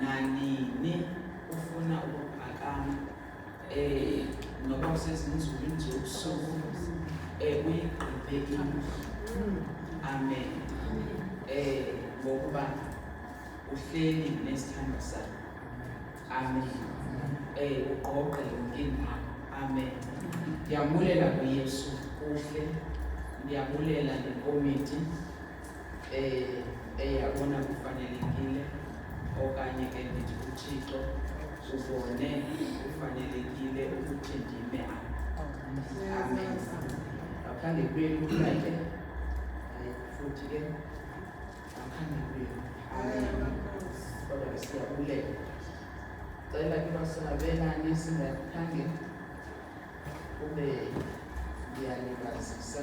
nanini ufuna ukuphakama um noba usezinzulwini zobusuku um eh, uyigqibe indlu amen um ngokuba uhleli nesithando sakho amen um ugqogqe yonke indawo amen ndiyabulela kuyesu kuhle ndiyabulela ngekomiti eyabona kufanelekile okanye ke ndithi uthixo ubone kufanelekile ukuthi ndime amen ngaphandle kwenu kake futhi ke ngaphandle kwenu amen kodwa ke siyabulela cela ke basonabelane singakhange kube ndiyalibazisa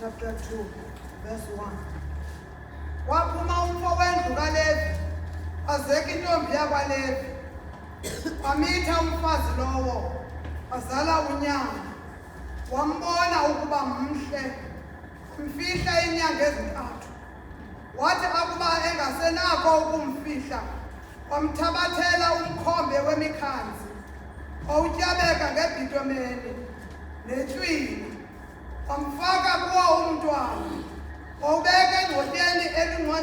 Chapter 2, verse 1. Waphuma umfo wendlu kaLevi, azeka intombi yakwaLevi. Wamitha umfazi lowo, azala unyana. Wambona ukuba mhle, mfihla inyanga ezintathu. wathi akuba engasenako ukumfihla wamthabathela umkhombe wemikhanzi owutyabeka ngebhitomeni netywina wamfaka kuwo umntwana wawubeka engcotyeni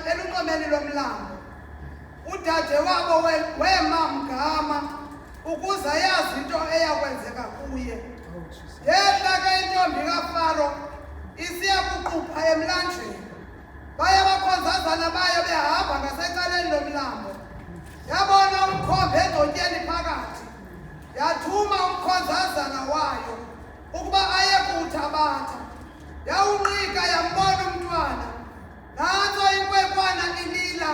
elunxomeni lomlambo udade wabo wema mgama ukuze ayazi into eya kwenzeka kuye yehla ke intombi kafaro isiya kuqupha emlanjeni baye bakhonzazana bayo behamba ngasecaleni lomlambo yabona umkhombe edotyeni phakathi yathuma umkhonzazana wayo ukuba aye kuthabatha yawunqika yambona umntwana Nantso inkwenkwana ilila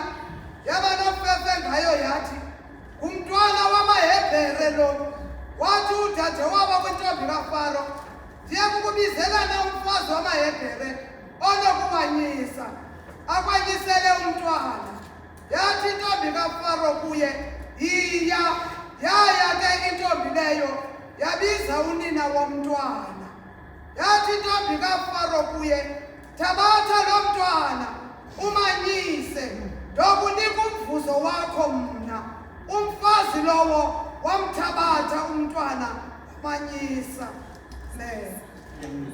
yaba nomfefe ngayo yathi, Ngumntwana wamaHebhere lo. Wathi udade waba kwintombi kaFaro, Ndiye kukubizelana umfazi wamaHebhere onokubanyisa, akwanyisele umntwana. Yathi intombi kaFaro kuye, Yiya! Yaya ke intombi leyo yabiza unina womntwana. Yathi intombi kaFaro kuye, Thabatha lo mntwana umanyise, ndokunika umvuzo wakho mna. Umfazi lowo wamthabatha umntwana wamanyisa. Amen.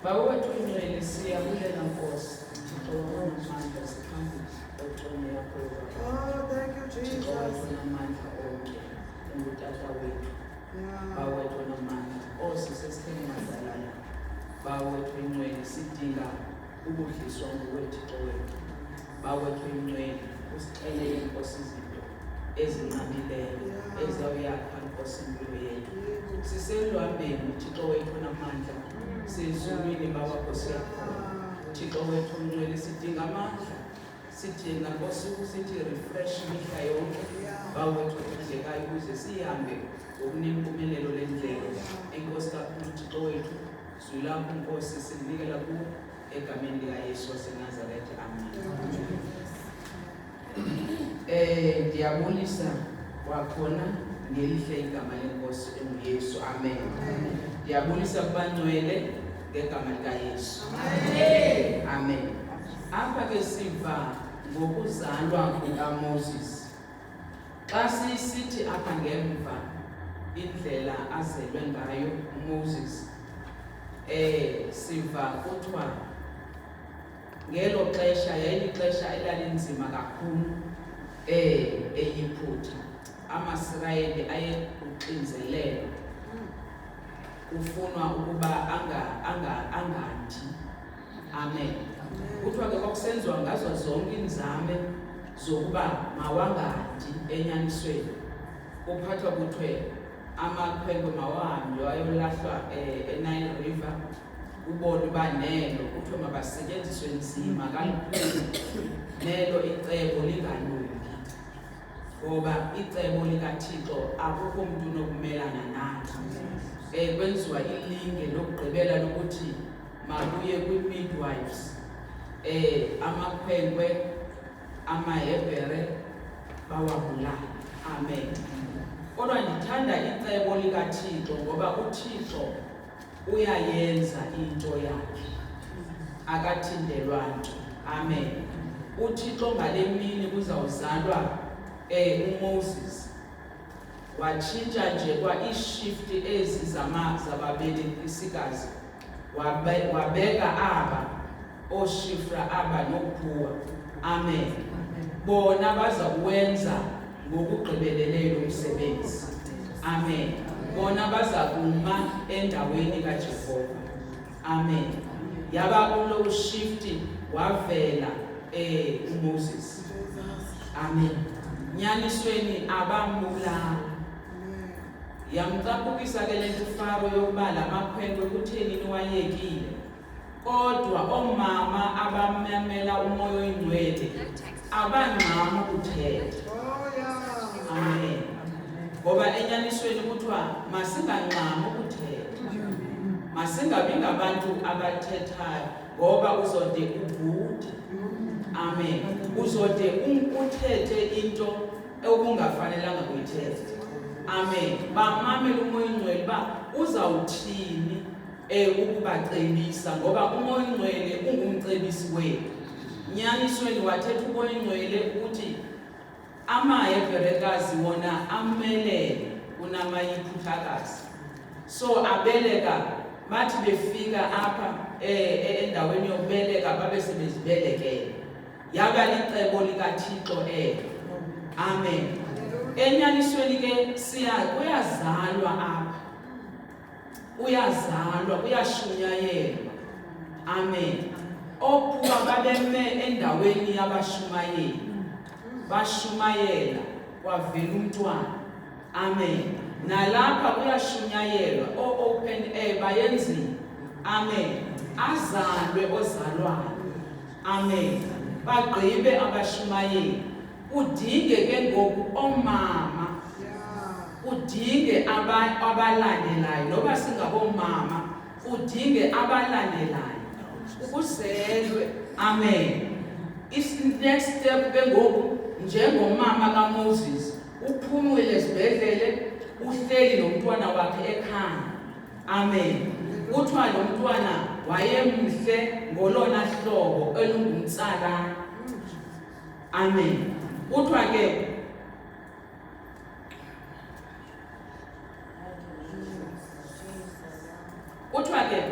Bawethu ingcwele siyabulela Nkosi. Thixo wamandla siphambili oxolo yakho. Oh, thank you Jesus. Thixo wamandla onke. Ungutata wethu. bawethu namandla oosisi esitheni madalana bawethu incweni sidinga ukudliswa ngowethixo wethu bawethu incweni usixele inkosi izinto ezinqabileyo ezawuyakha nkosi impilo yethu siseluhambeni uthixo wethu namandla sezulwini bawakho siyakhona thixo wethu mncweli sidinga amandla sithina kosuku sithi refresh mihla yonke bawethu othandekayo ukuze sihambe ngokunempumelelo le ndlela enkosi kakhulu thixo wethu zwi lakho nkosi sinikela kuwo egameni likayesu wasenazaretha amen um ndiyabulisa kwakhona ngelihle igama lenkosi enguyesu amen ndiyabulisa kubangcwele ngegama likaYesu. Amen. Amen. Apha ke siva ngokuzalwa kukaMoses. Xa sisithi apha ngemva indlela azelwe ngayo uMoses eh siva kuthiwa ngelo xesha yayilixesha elalinzima kakhulu eh eyiphutha amasirayeli ayekuxinzelelo kufunwa ukuba angandi amen kuthiwa ke kwakusenziwa ngazo zonke iinzame zokuba mawangandi enyanisweni kuphathwa kuthiwe amakhwenkwe mawahambe wayolahlwa eh, enile river kubona uba nelo kuthiwe mabasetyenziswe nzima kalukhulu nelo icebo lingalungi ngoba icebo likathixo akukho mntu unokumelana nathi um eh, kwenziwa ilinge lokugqibela lokuthi makuye kwi-midwives um amakhwenkwe amahebhere bawabulale amen kodwa ndithanda icebo likathixo ngoba uthixo uyayenza into yakhe akathindelwa nto amen uthixo ngale mini kuzawuzalwa um umoses watshintsha nje kwa-iishift ezi zababelekisikazi wabeka aba oshifra aba nokuphuwa amen bona baza kuwenza ngokugqibeleleyo umsebenzi amen bona baza kuma endaweni kajehova amen yaba kulo ushifti wavela um umoses amen nyanisweni abambulanga yamcaphukisa ke le nto ufaro yokuba la makhwenkwe kutheni niwayekile Kodwa oomama abamamela umoya oyingcwele abangxami ukuthetha. Amen. Ngoba enyanisweni kuthiwa masingangxami ukuthetha. Masingabi ngabantu abathethayo ngoba uzode ubhude. Amen. Uzode uthethe into okungafanelanga kuyithetha. Amen. Bamamele umoya oyingcwele uba uzawuthini e ukubacebisa ngoba umoya ongcwele ungumcebisi wethu nyanisweni wathetha umoya ongcwele ukuthi amaheberekazi wona amelele kunamayiphutakazi so abeleka bathi befika apha e, e, endaweni yokubeleka babe sebezibelekele yaba licebo likathixo elo amen enyanisweni ke siya kuyazalwa apha kuyazalwa kuyashunyayelwa amen okuba babeme endaweni yabashumayeli bashumayela kwavela umntwana amen nalapha kuyashunyayelwa o-open air bayenzile amen azalwe ozalwayo amen bagqibe abashumayeli kudinge ke ngoku oomama kudinge abalandelayo noba singaboomama kudinge abalandelayo ukuzelwe amen next step ke ngoku njengomama kamoses uphumile esibhedlele uhleli nomntwana wakhe ekhaya amen kuthiwa lo mntwana wayemhle ngolona hlobo elungumtsalana amen kuthiwa ke kuthiwa ke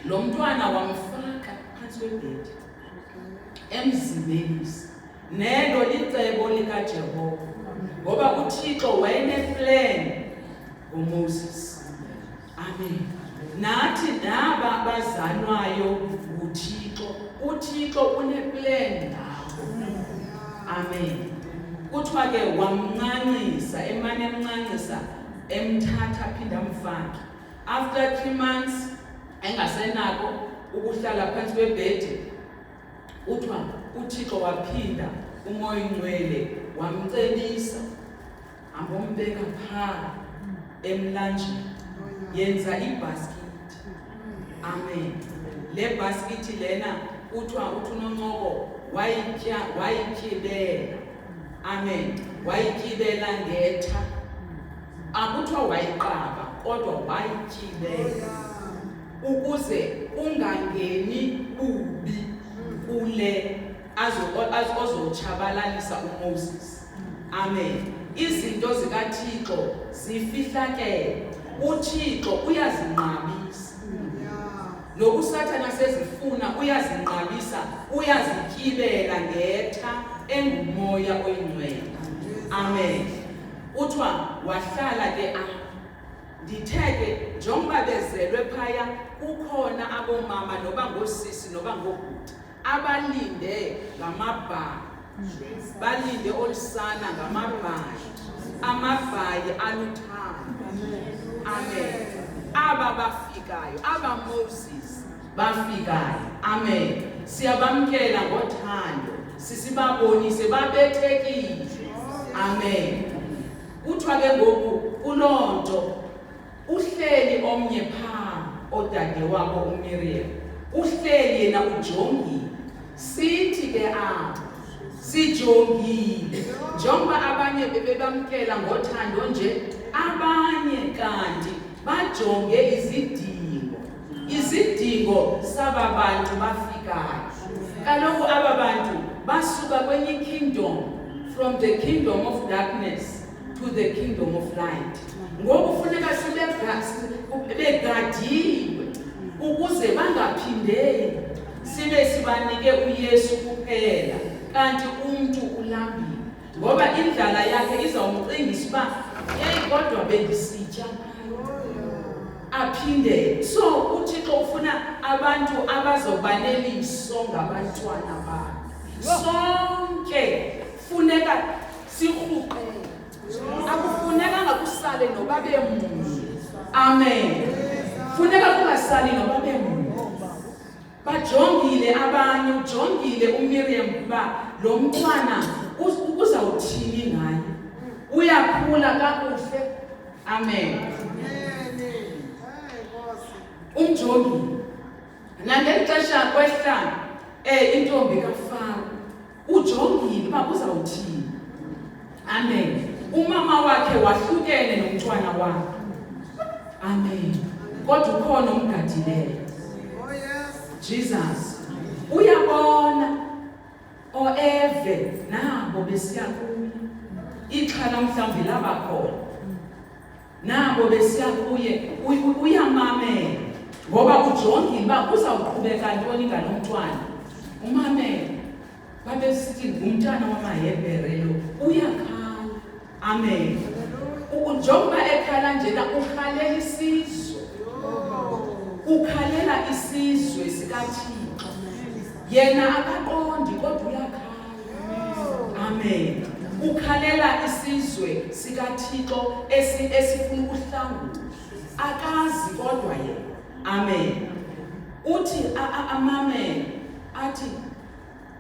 lo mntwana wamfaka phantsi kwebhedi emzimbeni nelo licebo likajehova ngoba uthixo wayeneplan ngomoses Amen. Nathi naba bazalwayo nguThixo. UThixo uneplan ngabo. Amen. Kuthiwa ke wamncancisa, emane emncancisa, emthatha aphinde amfake. After 3 months engasenako ukuhlala phansi kwebhedi, kuthiwa uThixo waphinda umoya ongcwele wamcebisa Ambombeka phaa emlanjeni. Yenza ibhaskithi. Amen. Le bhaskithi lena kuthiwa uthi unoncoko wayitya wayityibela. Amen. Wayityibela ngetha. Akuthiwa wayiqaba kodwa wayityibela ukuze ungangeni ubi kule azotshabalalisa uMoses. amen izinto zikathixo zifihlakele uthixo uyazinqabisa nokusathana sezifuna uyazinqabisa uyazityibela ngetha engumoya oyingcwele amen kuthiwa wahlala ke apho ndithe ke njengoba bezelwe phaya kukhona abomama noba ngoosisi noba ngoobhuti abalinde ngamabhayi balinde olusana ngamabhayi amabhayi aluthando amen aba bafikayo aba moses bafikayo amen siyabamkela ngothando sisibabonise babethekile amen kuthiwa ke ngoku kuloo nto Uhleli omnye phaa odade wabo uMiriam. Uhleli yena ujongile. Sithi ke apho sijongile njengoba abanye bebebamkela ngothando nje abanye kanti bajonge izidingo izidingo saba bantu bafikayo kaloku aba bantu basuka kwenye ikingdom from the kingdom of darkness to the kingdom of light ngoku funeka sibegadiwe ukuze bangaphindeli sibe sibanike uyesu kuphela kanti umntu ulambile ngoba indlala yakhe izawumcingisa uba yeyi kodwa bendisitya aphinde so uthixo ufuna abantu abazoba neliso ngabantwana bakhe sonke funeka sirhuqele akufunekanga kusale noba bemnye amen funeka kungasali noba bemnye bajongile abanye ujongile umiriam ukuba lo mntwana uzawuthini ngaye uyakhula kakuhle amen umjongi nangeli xesha kwehla um intombi kafaro ujongile uba uzawuthini amen umama wakhe wahlukene nomntwana wakhe amen kodwa ukhona umgadileyo jesus uyabona oeve nabo besiya kuye ixhala mhlawumbi labakhona nabo besiya kuye uyamamela ngoba ujongile uba kuzawuqhubeka ntoni ngalo mntwana umamela babesithi ngumntana wamahebhere lo uyakhala amen njengoba ekhala njena ukhalela isizwe ukhalela isizwe sikathixo yena akaqondi kodwa uyakhala Amen. Ukhalela isizwe sikaThixo esi esifuna ukuhlangula. Akazi kodwa yena. Amen. Uthi amamele athi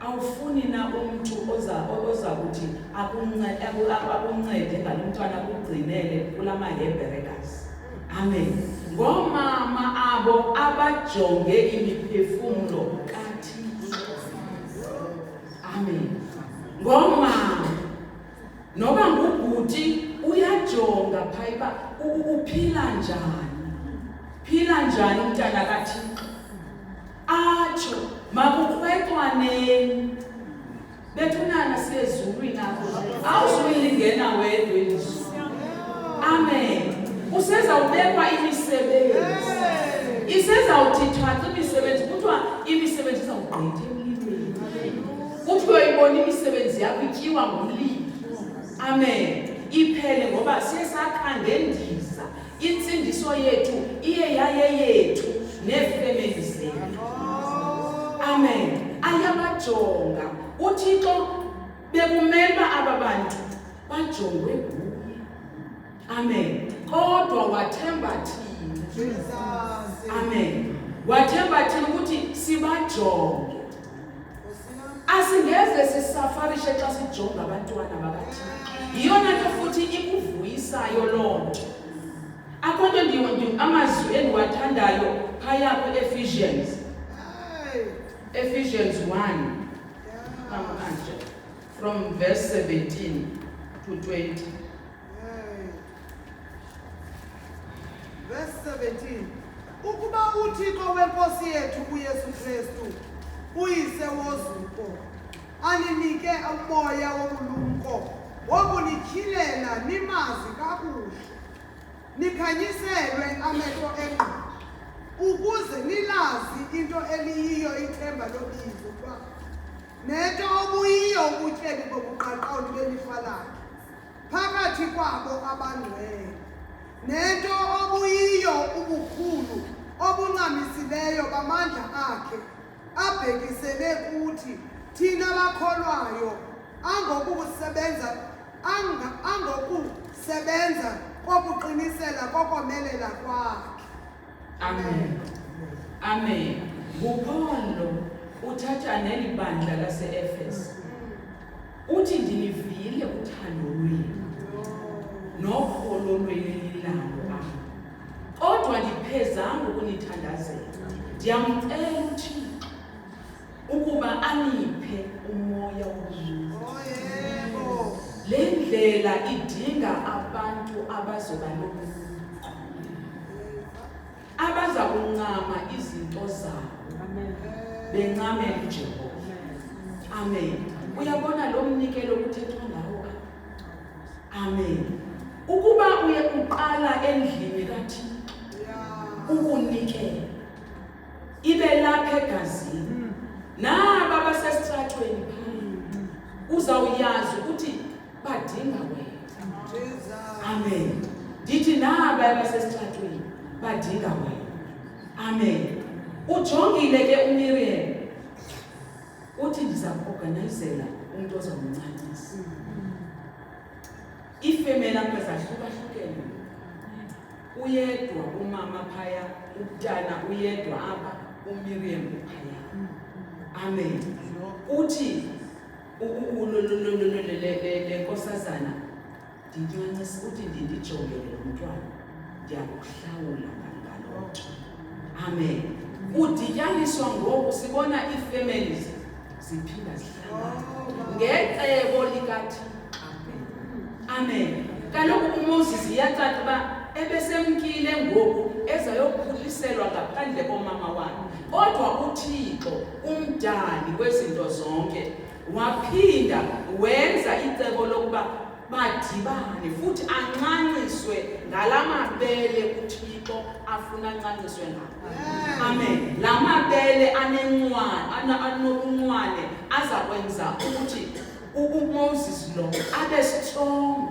awufuni na umuntu oza oza kuthi akuncede akuncede ngalomntwana kugcinele kulama Hebrews. Amen. Ngomama abo abajonge imiphefumulo Amen. Ngoma noba ngubhuti uyajonga phayiba uphila njani. Phila njani umntana kaThixo. Atsho makukhwetwaneni bethunana sezulwini apho awuzuyilingena wedwa elizwi amen usezawubekwa imisebenzi isezawuthi thatha imisebenzi kuthiwa imisebenzi izawugqitha emlilweni kuthiwa uyibona imisebenzi yakho ityiwa ngomlilo amen iphele ngoba siye sakhangendiza Insindiso yethu iye yayeyethu neefemeli zethu. Amen. Ayabajonga uThixo bekumele uba aba bantu bajongwe nguye. Amen. Kodwa wathemba thina. Amen. Wathemba thina ukuthi sibajonge. asingeze sisafarishe xa sijonga abantwana bakathixo yiyona nto futhi ikuvuyisayo loo nto akho nto amazwi endiwathandayo phaya kwi-ephesians ephesians 1 from verse 17 to 20 Verse 17. Ukuba uThixo wenkosi yethu uYesu Kristu uyise wozuko aninike umoya wobulumko wokunityhilela nimazi kakuhle nikhanyiselwe amehlo engqondo ukuze nilazi into eliyiyo ithemba lobizo ukuba nento obuyiyo ubutyebi bobuqaqawuli belifa lakhe phakathi kwabo abangcwele nento obuyiyo ubukhulu obuncamisileyo bamandla akhe abhekisele kuthi thina bakholwayo angokusebenza angokusebenza kokuqinisela kokomelela kwakhe Amen. Amen. NguPaul lo uthatha neli bandla laseEfesu. Uthi ndinivile uthando lwenu nokholo lwenililalo apha. Kodwa ndiphezanga ukunithandazela. Ndiyamcela uThixo ukuba aniphe umoya womntu le ndlela idinga abantu abazoba nobulumko abaza kuncama izinto zabo bencamela ujehova amen uyabona lo mnikelo kuthethwa ngawo amen ukuba uye uqala endlini kathixo ukunikela ibe lapha egazini naba basesithathweni uzawuyazi ukuthi badinga wena amen ndithi naba abasesithathweni badinga wena amen ujongile ke umiriam uthi ndiza kuorganayizela umntu ozawumncancisa iifemeli apha zahlukahlukene uyedwa umama phaya umntana uyedwa apha umiriam uphaya amen uthi le nkosazana ndinyancisa uthi ndindijongele lo mntwana ndiyakuhlawula ngaloo nto amen kudityaniswa ngoku sibona ii-families ziphinda zihlangana ngecebo likathixo amen kaloku umoses iyacaca uba ebesemkile ngoku ezayokhuliselwa ngaphandle komama wakhe kodwa uthixo umdali wezinto zonke waphinda wenza icebo lokuba badibane futhi ancanciswe ngala mabele uthixo afuna ancanciswe ngawo amen la mabele anencwane anobuncwane aza kwenza ukuthi umoses lo abe strong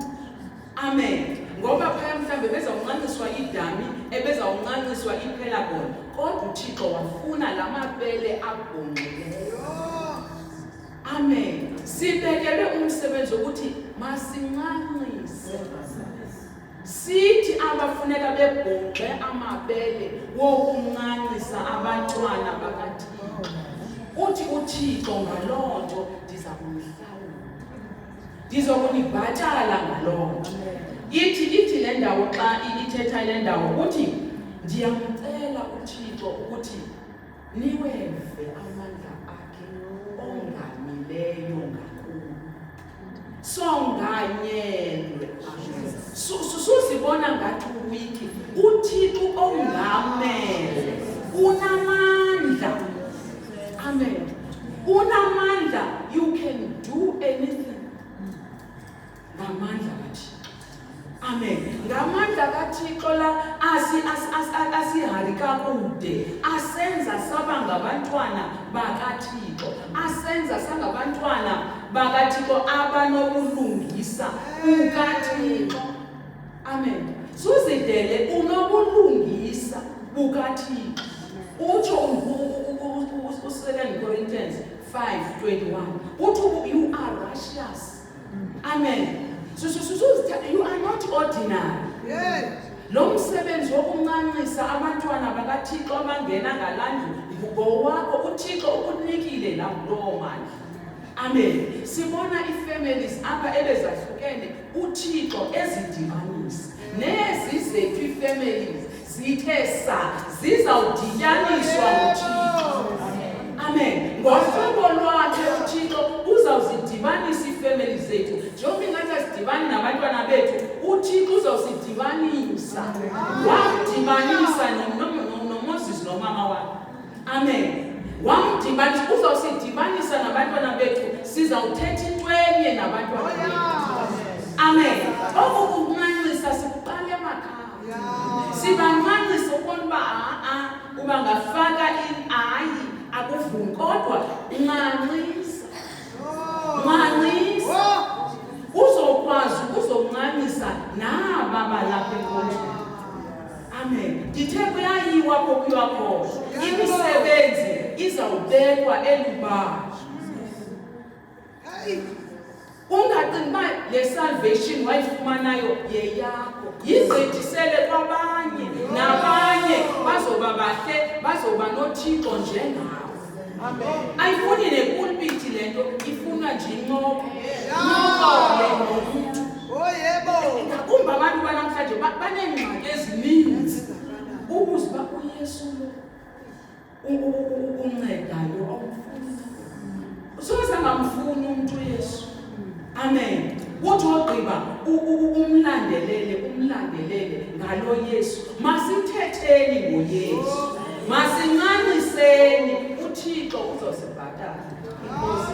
amen ngoba phaya mhlawumbe bezawuncanciswa idami ebezawuncanciswa ipelagon kodwa uthixo wafuna la mabele abhongqileyo Amen. Sibekelwe umsebenzi ukuthi masincancise. Sithi abafuneka bebhonxe amabele wokuncancisa abantwana bakaThixo. Uthi uThixo ngaloo nto ndiza kumhlawula. Ndizokunibhatala ngaloo nto. Ithi ithi le ndawo xa ithetha le ndawo ukuthi ndiyamcela uThixo ukuthi niweve amandla akhe ongamileyo ngakuwe songanyelwe Su- su- suzibona ngathi uwiki uthixo ongamele unamandla amen unamandla you can do anything ngamandla kathixo amen ngamandla kathixo la asihari kakude asenza saba ngabantwana bakathixo asenza sangabantwana bakathixo abanobulungisa bukathixo amen suzidele unobulungisa bukathixo utsho u-second corinthians 5 21 uthi you are righteous Amen. So so so, so you are not ordinary. Yes. Lo msebenzi wokuncancisa abantwana bakaThixo abangena ngalandlu ngowakho uThixo ukunikile la kulowo mali. Amen. Sibona ifamilies apha ebezahlukene uThixo ezidibanisa. Nezi zethu ifamilies zithe sa zizawudityaniswa nguthixo amen ngohlobo lwakhe uthixo uzawuzidibanisa iifemeli zethu njengoba ingathi asidibani nabantwana bethu uthixo uzawusidibanisa wamdibanisa nomoses nomama wakhe amen wamdibanisa uzawusidibanisa nabantwana bethu sizawuthetha into enye nabantwana bethu amen oku kumanxisa sikuqala emakhaya sibancancisa ukubona uba a-a uba ngafaka in ayi akuvumi kodwa ncancisa ncancisa uzokwazi uzoncamisa naba balapha enkonjeni amen ndithe kuyayiwa kokuyiwa khona imisebenzi izawubekwa elubala Hayi, ungacingi uba le salvation wayifumanayo yeyakho yigqithisele kwabanye nabanye bazoba bahle bazoba nothixo njengawo ayifuni nepulpiti le nto ifunwa nje incoko incokole nomntu ngakumbi abantu banamhlanje baneengxaki ezininzi ukuze uba uyesu lo uncedayo awumfuni soze angamfuni umntu uyesu amen uthi ogqiba umlandelele umlandelele ngalo yesu masithetheni ngoyesu masincaniseni uthixo uzosibhatala inkosi